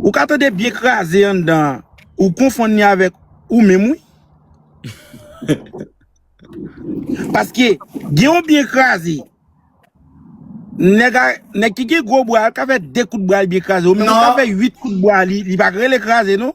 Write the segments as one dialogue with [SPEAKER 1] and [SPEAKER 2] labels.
[SPEAKER 1] Ou ka tande byen kraze anndan an ou konfonn li avèk ou menm wi. Paske gen yon byen kraze nèg ki gen gwo bwa al ka fè 2 kout bwa li byen kraze ou menm ou ka fè 8 kout bwa li li pa k rele kraze non.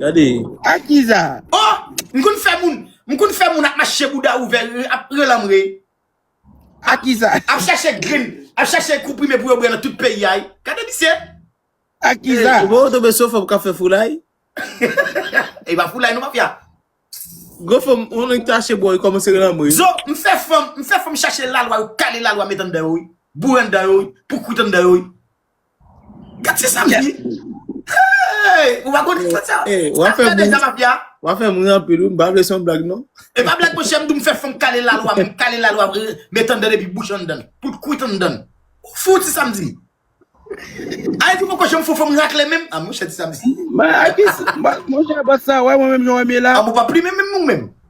[SPEAKER 2] Gade.
[SPEAKER 3] Ak ki sa?
[SPEAKER 1] Oh! M konn fè
[SPEAKER 2] moun, m konn fè moun ap mache bouda ouvè, ap pran lanmre. Ak
[SPEAKER 1] ki sa? Ap chache grenn,
[SPEAKER 2] ap chache konprime pou yo bwè nan tout peyi a. Gade misye. Ak ki
[SPEAKER 1] sa? Ou pa wè w tonbe sou fanm k ap fè
[SPEAKER 3] foulay?
[SPEAKER 2] E pa foulay non mafya. Gwo fanm,
[SPEAKER 3] yon nèg tache bò, yo kòmanse lanmre. Zo, m fè fanm,
[SPEAKER 2] m fè fanm chache lalwa, yo kale lalwa met anndan yo wi. Boure anndan yo wi, poukourit anndan yo wi. Gad se sa menm. Hey! Ou pa konn episode sa? Hey, ou ap fè moun. Deja
[SPEAKER 3] mafia. Ou ap
[SPEAKER 2] fè moun an pil
[SPEAKER 3] ou, m pa vle son blag non. E pa blag monchè, m di m
[SPEAKER 2] fè fanm kale la lwa, m kale la lwa met anndan epi bouch anndan, tout kwit anndan. Ou fou ti Samdi? Ayiti poko janm fò fanm rakle menm? Ah monchè ti Samdi. Monchè
[SPEAKER 1] bòs sa wè mwen menm jan w wè m ye la? Ah bon pa plimen menm ou
[SPEAKER 2] menm?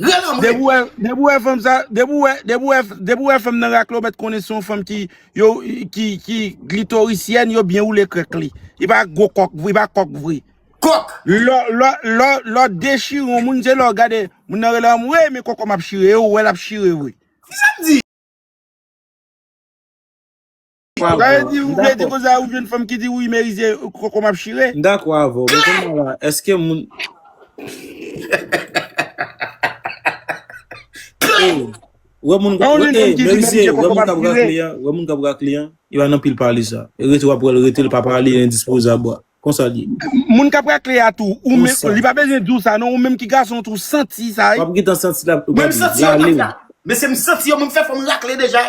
[SPEAKER 2] Rèl anmwe. Depi w wè,
[SPEAKER 1] depi w wè fanm sa, depi w wè, depi w wè, depi w wè fanm nan rakle w mèt konnen se yon fanm ki yo ki ki glitorisyèn yo byen woule krèk li. Li pa gwo kòk vre, li pa kòk vre. Kòk. Lò,
[SPEAKER 2] lò, lò,
[SPEAKER 1] lò dechire yon moun se lè w gade moun nan rele anmwey men kòkòm ap chire e ou wè l ap chire vre. Kisa m di? Ou ka vle di ou vle di konsa ou jwenn fanm ki di wi Merizier koko map chire. M dakò avè w men kounya
[SPEAKER 3] la eske moun Ey wè moun An ou jwenn fanm ki di Merizier koko map chire. Wè moun kap rakle an e pa nan pil pale sa e rete wap wèl rete l pa pale endispozab wa konsa l ye. Moun kap rakle a
[SPEAKER 1] tou ou men li pa bezwen di w sa non ou menm ki gason tou w santi sa wi. Wap gentan santi lap
[SPEAKER 3] Mwen m santi yo tap la.
[SPEAKER 2] Mesye m santi yo mwen m fè fòm rakle deja.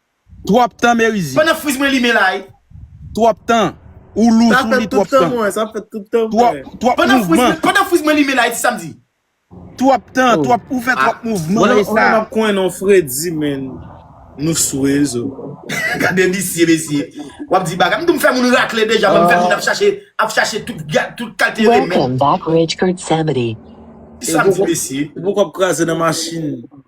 [SPEAKER 2] Trop
[SPEAKER 1] tan merizi. Pandan friz mwen limen la wi.
[SPEAKER 2] Trop tan.
[SPEAKER 1] Ou lou sou li trop tan. Sa fèt tout tan
[SPEAKER 3] mwen. Trop mouvman. Pandan friz
[SPEAKER 2] mwen limen la wi ti sa m di. Trop
[SPEAKER 1] tan. Ou fè
[SPEAKER 3] trop
[SPEAKER 1] mouvman.
[SPEAKER 3] Mwen
[SPEAKER 1] pa tap
[SPEAKER 3] kwen
[SPEAKER 1] non fredi men
[SPEAKER 3] nou sou rezo. Gade
[SPEAKER 2] misye mesye. Wap di bagay. M tou m fè moun rakle deja m fè moun ap chache ap chache tout kalte remèd.
[SPEAKER 4] Ti sa m di
[SPEAKER 2] mesye. Pou kòb kraze nan
[SPEAKER 3] machin.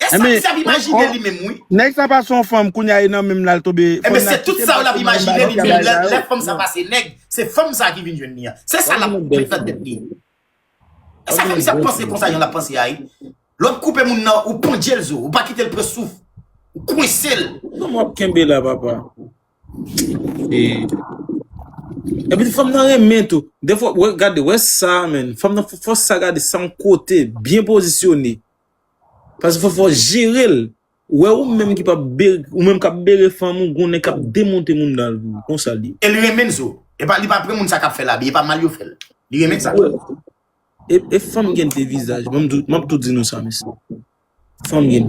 [SPEAKER 2] E sa misye ap imajine li menm wi. Nèg sa pa son fanm
[SPEAKER 1] kounya e nan menm lal tobe. Ebyen se tout sa yo lap
[SPEAKER 2] imajine li menm lè fanm sa pase nèg se fanm sa ki vin jwenn li an. Se sa lap met nan tèt li. E sa fanm sa ap panse konsa jan lap panse a wi. Lè wap koupe moun nan ou pandjel zo, ou pa kitel pran souf. Ou kwensel. Kòman wap kenbe la
[SPEAKER 3] papa. Epi fanm nan renmen tou. Defo gade wè sa men. Fanm nan fòs sa gade san kote byen pozisyone. Pase fò fò jerel ou wè ou menm ki pap bere ou menm kap bere fanm ou gon nèg kap demonte moun danl pou ou konsa liye. E li renmen zo.
[SPEAKER 2] Epa li pa pre moun sa kap fel abi epa mal yo fel. Li renmen sa.
[SPEAKER 3] E fanm gen de vizaj map tou di nou sa mesye. Fanm gen de.